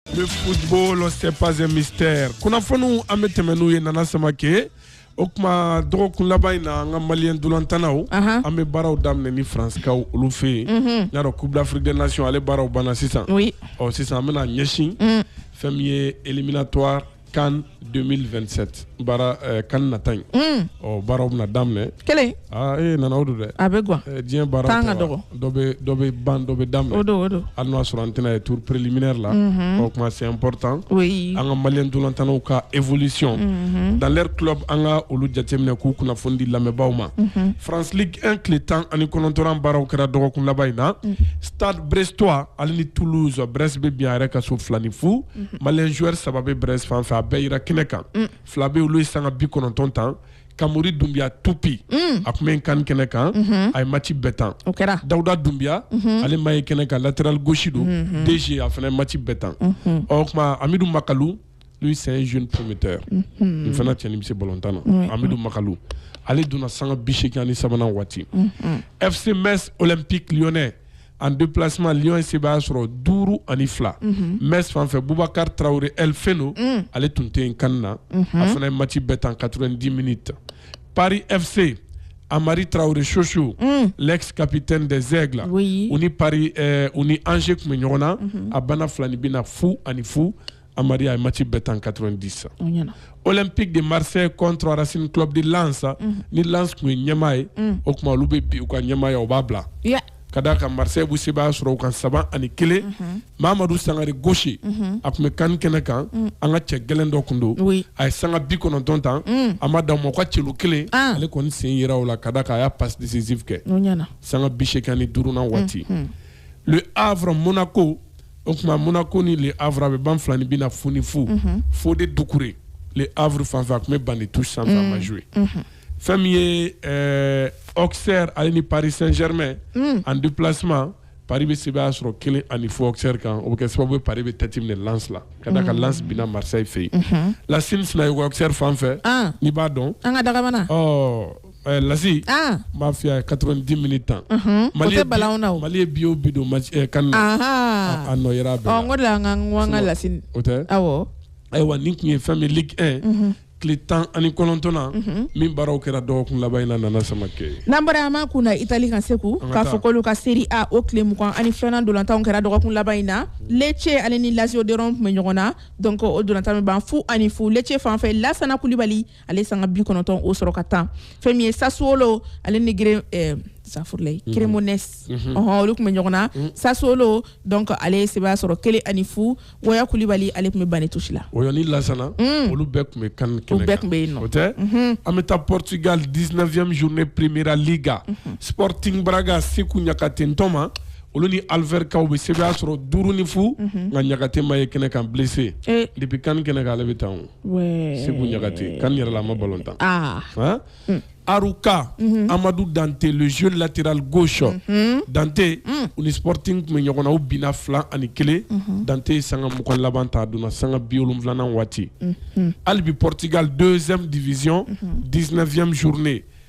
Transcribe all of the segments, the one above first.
Le football, c'est pas un mystère. Kunnafoniw an bɛ tɛmɛ n'u ye Nana Samake. O tuma dɔgɔkun laban in na an ka maliyɛn dolantanaw Ahan. an bɛ baaraw daminɛ ni faranskaw olu fɛ yen n y'a dɔn coupe d'afrique des nations ale baaraw banna sisan Oui. ɔ sisan an bɛna ɲɛsin fɛn min ye éliminatoire CAN 2027 baara eh, CAN nata in mm. ɔ baaraw bɛna daminɛ kelen aa e nana o don dɛ a bɛ gan eh, diɲɛ baara tan ka dɔgɔ dɔ bɛ dɔ bɛ ban dɔ bɛ daminɛ o don o don hali n'a sɔrɔ an tɛna ye tour préliminaire la mhm. o kuma c'est important oui an ka maliyɛn ntolantannaw ka évolution mhm. dans leur club an ka olu jateminɛ k'u kunnafoni di lamɛnbaaw ma mhm. France Ligue 1 tile tan ani kɔnɔntɔnnan baaraw kɛra dɔgɔkun laban in na mm. stade brestois ale ni Toulouse Brest bɛ bin a yɛrɛ ka so fila ni fu maliyɛn joueur saba bɛ Brest fan fɛ a bɛɛ yera kɛnɛ kan fila bɛ olu ye sanga bi kɔnɔntɔn tan kamori dunbiya tupi a tun bɛ CAN kɛnɛ kan a ye match bɛɛ tan dawuda dunbiya ale ma ye kɛnɛ kan latéral gauche don DG a fana match bɛɛ tan o tuma amidu makalu lui c'est un jeune prometteur a fana cɛn bɛ se balɔntan na amidu makalu ale donna sanga bi seegin ani sabanan waati FC Metz Olympique Lyonnais en déplacement Lyon ye sebaaya sɔrɔ duuru ani fila mhm. Metz fan fɛ Boubacar Traoré El Feno mm. ale tun tɛ yen CAN na mhm. a fana ye match bɛɛ tan 90 minutes Paris FC Hamari Traoré Chouchou mm. l'ex capitaine des Aigles oui. u ni Paris eh, u ni Angers tun bɛ ɲɔgɔn na mhm. a banna filaninbin na fu ani fu Hamari a ye match bɛɛ tan 90 Olympique de Marseille contre Racing Club de Lens ni Lens tun ye ɲɛmaa ye o tuma olu bɛ bin u ka ɲɛmaaya u b'a bila ka d'a kan Marseille bɛ sebaaya sɔrɔ u kan saba ani kelen mamadu sangare gaucher a tun bɛ CAN kɛnɛ kan an ka cɛ gɛlɛn dɔ tun don a ye sanga bi kɔnɔntɔn tan a ma da mɔgɔ ka celu kelen ale kɔni sen yera o la ka d'a kan a ye passe décisive kɛ sanga bi seegin ani duurunan waati Le Havre Monaco o tuma monaco ni le havre a bɛ ban filaninbin na fu ni fu mm -hmm. fode dukure le havre fan fɛ a tun bɛ banc de touche sanfɛ mm -hmm. a ma jouer mm -hmm. fɛn min ye euh, auxerre ale ni paris saint germain mm. en déplacement paris bɛ sebaaya sɔrɔ kelen ani fu auxerre kan o bɛ kɛ sababu ye paris bɛ tête minɛ lens la ka d'a kan mm. lens binna marseille fɛ yen mm -hmm. lasini sina ye auxerre fan fɛ ah. n'i b'a dɔn an ka dagamana ɔ oh. Eh, lasi ah. n b'a f'i ye 90 minutes tan mali ye bi o bi don eh, CAN na a nɔ yera bɛɛ la n ko de an ka n ko an ka lasi o tɛ awɔ ayiwa nin tun ye fɛn min ligue 1 mhm. tile tan ani kɔnɔntɔnnan mhm. min baaraw kɛra dɔgɔkun laban in na nana samake n'an bɔra an b'a kun na itali kan segu k'a fɔ k'olu ka serie a o tile mugan ani filanan dolantanw kɛra dɔgɔkun laban in na lece ale ni lazio de rome tun bɛ ɲɔgɔn na donc o dolantan bɛ ban fu ani fu lece fan fɛ lasana kulibali ale sanga bi kɔnɔntɔn o sɔrɔ ka tan fɛn min ye sasuwolo ale ni gere eh, safurulayi mhm. cremonese mhm. ɔhɔn olu tun bɛ ɲɔgɔn na mhm. sasuwolo donc ale ye sebaya sɔrɔ kelen ani fu wɔya kulibali ale tun bɛ banc de touche la wɔyɔ ni lasana mm. olu bɛɛ tun bɛ kan kɛnɛ kan u bɛɛ tun bɛ yen nɔ o tɛ an bɛ taa portugal 19e journée primeira liga sporting braga seku ɲakate n tɔma olu ni alverca u bɛ sebaya sɔrɔ duuru ni fu nka ɲakate ma ye kɛnɛ kan blessé eh. depuis kan kɛnɛ kan ale bɛ tan o seku ɲakate kan yɛrɛ la a ma balon tan ah. hmm. arouca mhm. amadu dante le jeune latéral gauche mhm. dante hmm. u ni sporting tun bɛ ɲɔgɔn na u binna fila ani kelen mhm. dante ye sanga mugan laban tan a donna sanga bi wolonwulanan waati hali bi portugal deuxième division 19e journée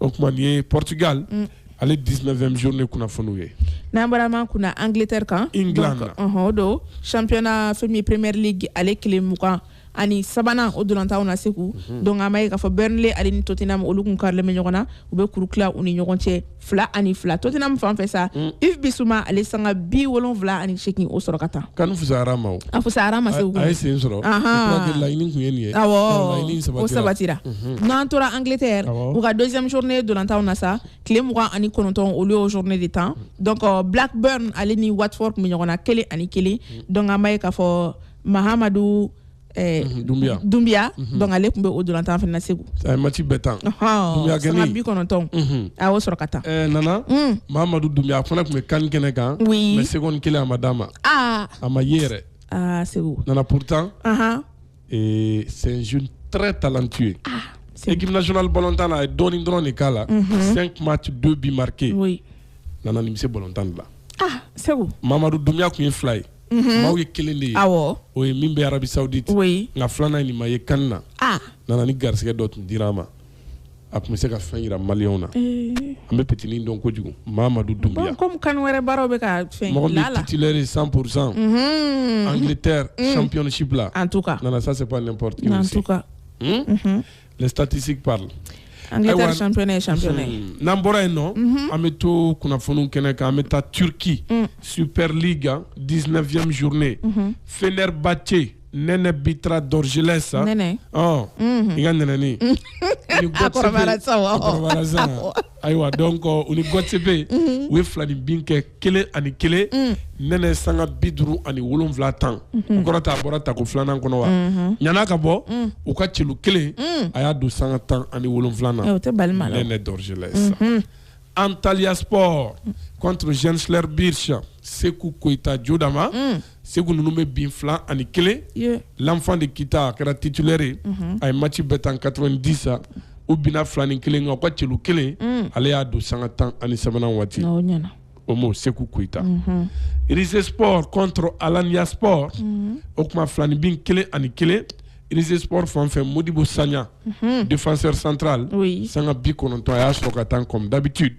o tuma nin ye portugal mm. ale 19e journée kunnafoniw ye n'an bɔra man kunna angleterre kan england na ɔhɔn o don championnat fɛn min premier league ale tile mugan ani sabanan o dolantanw na segu mhm. donc an b'a ye k'a fɔ burnley ale ni tottenham olu kun karilen bɛ ɲɔgɔn na u bɛ kuru tila u ni ɲɔgɔn cɛ fila ani fila tottenham fan fɛ sa mm. yves bissouma ale sanga bi wolonwula ani seegin o sɔrɔ ka tan kan fusayara a ma o a fusayara a ma segu a ye sen sɔrɔ laɲini tun ye nin ye awɔ o sabatira mhm. n'an tora angleterre u ka deuxième journée dolantanw na sa tile mugan ani kɔnɔntɔn olu y'o journée de tan donc euh, blackburn ale ni watford tun bɛ ɲɔgɔn na kelen ani kelen mhm. donc an b'a ye k'a fɔ mahamadu Eh, mhm, Dumbia. Dumbia. Mhm. Donc, ale tun bɛ o dolantan fana segu a ye mati bɛɛ tan dumbia kɔni sanga bi kɔnɔntɔn mhm. a y'o sɔrɔ ka tan eh, nana mm. mahamadu dumbia a fana tun bɛ kan kɛnɛ kan oui. mais seconde kelen a ma d'a ma ah. a ma ye yɛrɛ ah, segu nana pourtant uh ah. -huh. ee c'est un jeune très talentueux ah, équipe nationale balontan na a ye dɔɔnin dɔrɔn de k'a la mhm. cinq matchs deux buts marqués oui. nana nin bɛ se balontan de la ah, segu mamadu dumbia tun ye fila ye mhm. maaw ye kelen de ye awɔ o ye min bɛ arabie saoudite oui. nka filanan ye nin ma ye kan na ah. nana ni garisɛgɛ dɔ tun dira a ma a tun bɛ se ka fɛn jira mali na an bɛ ptinin dɔn kojugu mamadu dun kan wɛrɛ baara bɛ ka fɛn mɔgɔlɛ san pz an tɛ sanpsi bila an nana sa se ptetisi an n'an bɔra yen nɔ an bɛ to kunnafoni kɛnɛ kan an bɛ taa tuuriki supli dizfy zourunnen fɛnɛba tɛ nɛnɛ bitra dorgeles nɛnɛ ɔ i ka nɛnɛni a kɔrɔbayara sisan wa a kɔrɔbayara sisan ayiwa donc u ni göztepe u ye filaninbin kɛ kelen ani kelen nɛnɛ sanga bi duuru ani wolonwula tan o kɔrɔ t'a bɔra tako filanan kɔnɔ wa ɲan'a ka bɔ u ka celu kelen a y'a don sanga tan ani wolonwula na o tɛ bali ma nɛnɛ dorgeles Antalyaspor contre Gençlerbirliği Sekou Koita Jodama mm. Sekou ninnu bɛ bin fila ani kelen yeah. l'enfant de Kita a kɛra titulaire ye mm -hmm. a ye match bɛɛ tan 90 u binna fila ni kelen kan u ka celu kelen mm. ale y'a don sanga tan ani sabanan waati no, o m'o Sekou Koita mm -hmm. Rizespor contre Alanyaspor mm -hmm. o kuma filaninbin kelen ani kelen rizsport fanfɛ modibu sanya defasɛ santurali n'o san bi kɔnɔntɔn a y'a sɔrɔ ka taa kɔm dabitu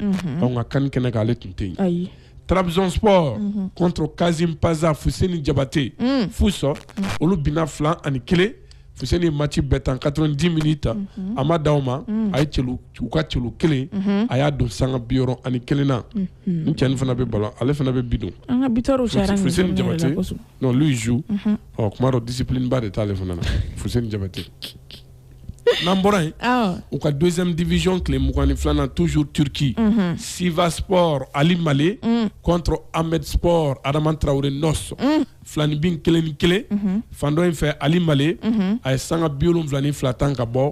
anw ka kan kɛnɛ k'ale tun tɛ yen tarawelerabisɔnp kɔnto kaz panz fuse jabate fu sɔrɔ olu bɛna fila ani kelen fu ni mati bɛɛ tan ka dɔrɔn di min ta a ma d aw ma a ye ka cɛw kelen a y'a don sanga bi ani kelen na n cɛn fana bɛ balo ale fana bɛ bi don an ka bi jabate n'o zu Ɔ kuma dɔ discipline ba de t'ale fana na Fousseni Diabaté n'an bɔra yen u ka deuxième division tile mugan ni filanan toujours Turquie Sivasspor Aly Mallé contre Amedspor Adama Traoré Noss filaninbin kelen ni kelen fan dɔ in fɛ Aly Mallé a ye sanga bi wolonwula ni fila tan ka bɔ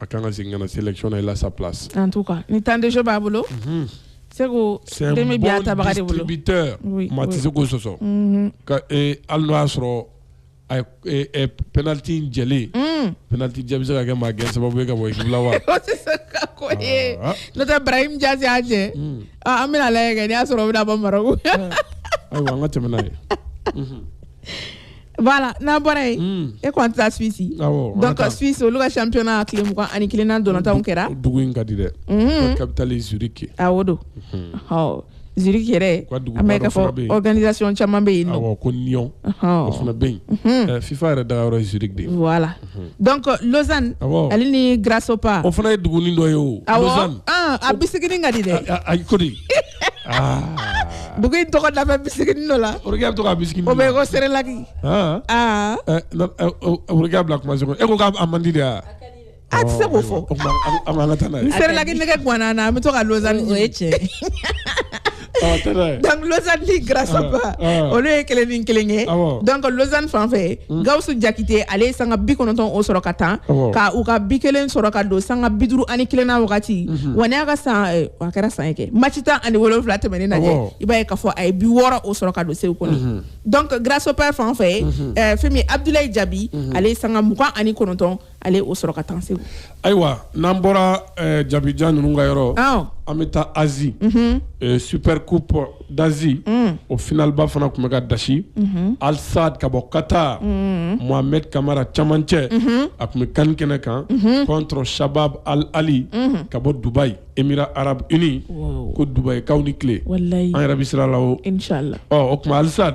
a kan ka segin ka na sélection na il a sa place en tout cas ni temps de jeu b'a bolo mhm. Segu demi bi ata baga de bolo distributeur maa tɛ se k'o sɔsɔ mhm. ka e hali n'o y'a sɔrɔ a ye e, penalty in jɛli mm. penalty jɛ bɛ se ka kɛ maa gɛn sababu ye ka bɔ ekipu la wa o tɛ se ka ko ye ah. n'o tɛ Brahim Diaz y'a jɛ mm. ah, an bɛn'a lajɛ kɛ n'i y'a sɔrɔ o bɛna bɔ Maroc ayiwa an ka tɛmɛ n'a ye voilà n'a bɔra yen hmm. e kɔni tɛ taa suisse donc suisse olu ka championnat tile mugan ani kelennan ntolatanw kɛra dugu in ka di dɛ hmm. capitale ye zurich ye awɔ don ɔ zurich yɛrɛ an bɛ k'a fɔ organisation caman bɛ yen nɔ awɔ ko nyon o fana bɛ yen hmm. eh, fifa yɛrɛ dagayɔrɔ ye zurich de ye voilà donc lausanne ale ni grasshopper o fana ye dugunin dɔ ye o lausanne awɔ a bisikinin ka di dɛ ayi ko di dugu in tɔgɔ da bɛ bisikinin dɔ la bɛ to ka bisikinin o bɛ ko serelaki aakɛ bila kuma e ko k'a man di de yan a tɛ se k'o fɔ serelaki nɛgɛ gan na an bɛ to ka Lausanne ye donc Lausanne ni Grasshopper olu ye kelen ni kelen kɛ donc Lausanne fan fɛ hmm. Gaoussou Diakité ale ye sanga bi kɔnɔntɔn o sɔrɔ ka tan ka u ka bi kelen sɔrɔ ka don sanga bi duuru ani kelennan waati hmm. wa nin y'a ka san a kɛra san kɛ match tan ani wolonwula tɛmɛnen na i b'a ye k'a fɔ a ye bi wɔɔrɔ o sɔrɔ ka don segu kɔni mhm. donc Grasshopper fan fɛ mhm. eh, fɛn min Abdoulaye Diaby mhm. ale sanga mugan ani kɔnɔntɔn ale o sɔrɔ ka tan segu ayiwa n'an bɔra eh, Diaby jan ninnu ka yɔrɔ an bɛ taa Asie eh, super coupe d'asie mm. o finalba fana tun bɛ ka dasi mm -hmm. al sadd ka bɔ qatar mm -hmm. mohamed kamara camancɛ mm -hmm. a tun bɛ kan kɛnɛ kan mm -hmm. contre shabab al ahli mm -hmm. ka bɔ dubai émirats arabes unis wow. ko dubai kaw ni tile an yɛrɛ bɛ sira la o o tuma al sadd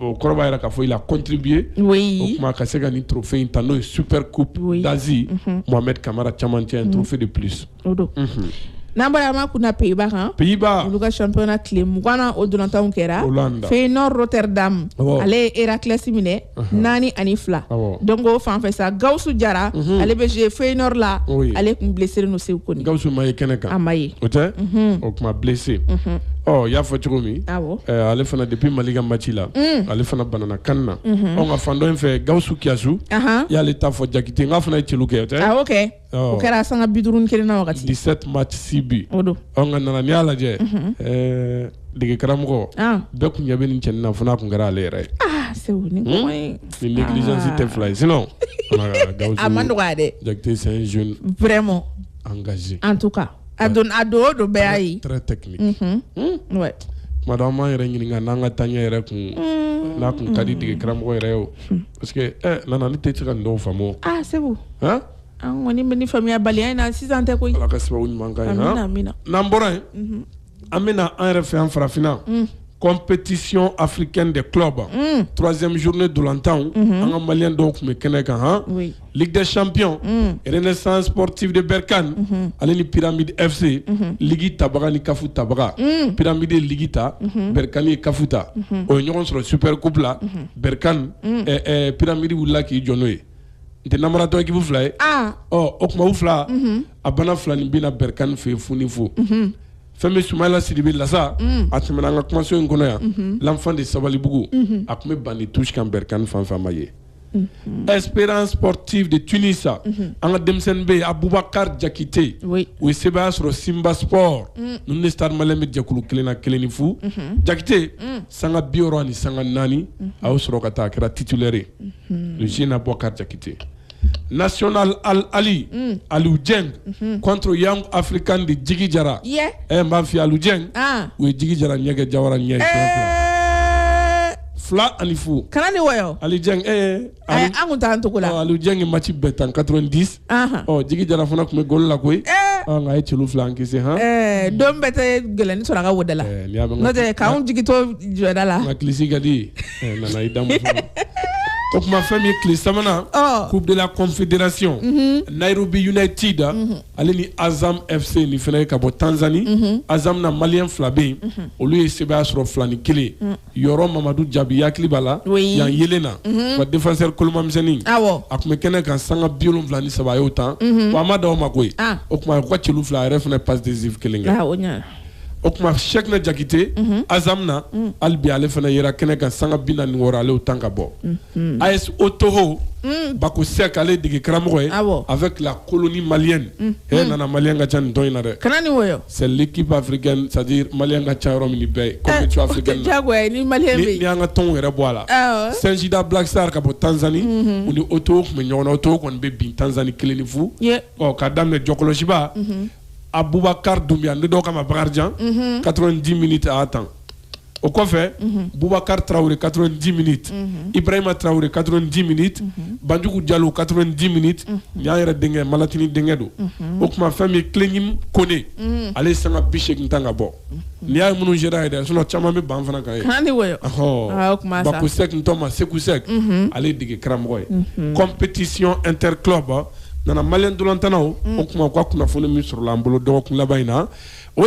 o kɔrɔ b'a yira k'a fɔ il a contribué oui o tuma ka se ka nin trophée in ta n'o ye super coupe oui. d'Asie mhm. Mohamed Kamara camancɛ un mhm. trophée de plus o don mhm. n'an bɔra an b'a kunna Pays-Bas kan Pays-Bas olu ka championnat tile mugannan o dolantanw kɛra Hollande Feyenoord Rotterdam ale ye Heracles minɛ naani ani fila donc o fan fɛ sa Gawusu Jara ale bɛ jouer Feyenoord la ale tun blessélen don Seku Kone Gawusu ma ye kɛnɛ kan a ma ye o tɛ o tuma blessé i y'a fɔ cogo min ale fana depuis mali ka maci la mm. ale fana banana kan na mhm. anw ka fan dɔ in fɛ gawusu kiasu y'ale ta fɔ jakite n'a fana ye celu kɛ o tɛ ah, o kɛra sanga bi duuru ni kelen na wagati dix-sept matchs six buts nka nana n'i y'a lajɛ mhm. eh, dege karamɔgɔ ah. bɛɛ tun ɲɛ bɛ nin cɛnin na fo n'a tun kɛra ale yɛrɛ ye ah, hmm? ni négligence tɛ fila ye sinon a ma nɔgɔya dɛ jakite c'est un jeune vraiment engagé en tout cas a don a don o don bɛɛ y'a ye très technique mhm. hmm? ouais tuma dɔ an b'an yɛrɛ ɲininka n'an ka taaɲɛ yɛrɛ kun hmm. n'a kun ka di dege karamɔgɔ yɛrɛ ye o hmm. parce que ɛ eh, nana ne tɛ se ka nin dɔw faamu o ah seku han an kɔni bɛ nin faamuyabaliya in na sisan tɛ koyi ala ka sababu ɲuman k'an ye han amina amina n'an bɔra yen mhm. an bɛna an yɛrɛ fɛ yan farafinna mm. compétition africaine des clubs mm. troisième journée dolantanw mm-hmm. an ka maliyɛn dɔw tun bɛ kɛnɛ kan han oui. ligue des champions mm. renaissance sportive de berkane mm -hmm. ale ni pyramide fc mm -hmm. ligi tabaga ni kafu tabaga mm. pyramide ye ligi ta mm -hmm. berkane ye kafu ta mm -hmm. o ye ɲɔgɔn sɔrɔ super coupe la mm -hmm. berkane mm. eh, eh, pyramide wulila k'i jɔ n'o ye N tɛ namaratɔ équipe fila ye o tuma u fila a banna fila nin bɛnna Berkane fɛ fu ni fu fɛn bɛ Sumayila Sidibe la sa a tɛmɛna an ka kumaso in kɔnɔ yan l'enfant de sabalibugu a tun bɛ banc de touche kan Berkane fan fɛ min ye Espérance sportive de Tunis an ka denmisɛnnin bɛ yen Abubakari jakite u ye sebaaya sɔrɔ Simba Sport ninnu ni Stade Malien bɛ jɛkulu kelen na kelen ni fu jakite sanga bi wɔɔrɔ ni sanga naani a y'o sɔrɔ ka taa a kɛra titulaire Zina bɔ karitite nas ali ali jɛ kɔnto yan afiri kan de jigi jara ɛ ma fi ali jɛ u ye jigi jara ɲɛgɛn jayara ɲɛ fila ani fo kana ni wa ali an taa an cogo la alijɛ ni mati bɛɛ tan ka di ɔ jigi jara fana tun bɛ golo la koyi nka a ye celu fila encaisser don bɛɛ tɛ gɛlɛnni sɔrɔ ka wodala n'o tɛ k'an jigi to jɔda la nka clean sheet ka di nana i damu o tuma fɛn min ye tile sabanan Coupe de la Confédération Nairobi United ale ni Azam FC nin fana ye ka bɔ Tanzanie Azam na maliyɛn fila bɛ yen olu ye sebaaya sɔrɔ fila ni kelen yɔrɔ mamadu jabi hakili b'a la yan yelen na mhm. ka défenseur kolomamisɛnnin a tun bɛ kɛnɛ kan sanga bi wolonwula ni saba a y'o tan mhm. wa a ma da o ma koyi ah. o tuma u ka celu fila a yɛrɛ fana passe décisive kelen kɛ ah, o tuma sɛkina jakite mhm. Azam na mm. hali bi ale fana yera kɛnɛ kan sanga bi naani ni wɔɔrɔ ale y'o tan ka bɔ AS Otoho mm. bako sɛk ale ye dege karamɔgɔ ye avec la colonie malienne hɛ nana maliyɛn ka ca nin tɔn in na dɛ C'est l'équipe africaine c'est-à-dire maliyɛn ka ca yɔrɔ min bɛɛ n'an ka tɔnw yɛrɛ bɔ a la Singida Black Stars ka bɔ Tanzanie u ni Otoho tun bɛ ɲɔgɔn na Otoho kɔni bɛ bin Tanzanie kelen ni fu ɔ k'a daminɛ jɔkɔlɔsiba abubakari dunbiya ni dɔw k'a ma bakarijan quatre-vingt-dix minutes a tan o kɔfɛ bubakari tarawele quatre-vingt-dix minutes ibrahima tarawele quatre-vingt-dix minutes banjugu jalo quatre-vingt-dix minutes nin y'an yɛrɛ denkɛ malatini denkɛ don o tuma fɛn min ye Klégnimé Koné ale sanga bi segin tan ka bɔ n y'a minnu yɛrɛ yɛrɛ sinon caman bɛ banc fana kan ye bako sɛk tɔma seku sɛk ale dege karamɔgɔ ye compétition interclub nana maliyɛn ntolatannaw o tuma u ka kunnafoni min sɔrɔla an bolo dɔgɔkun laban in na o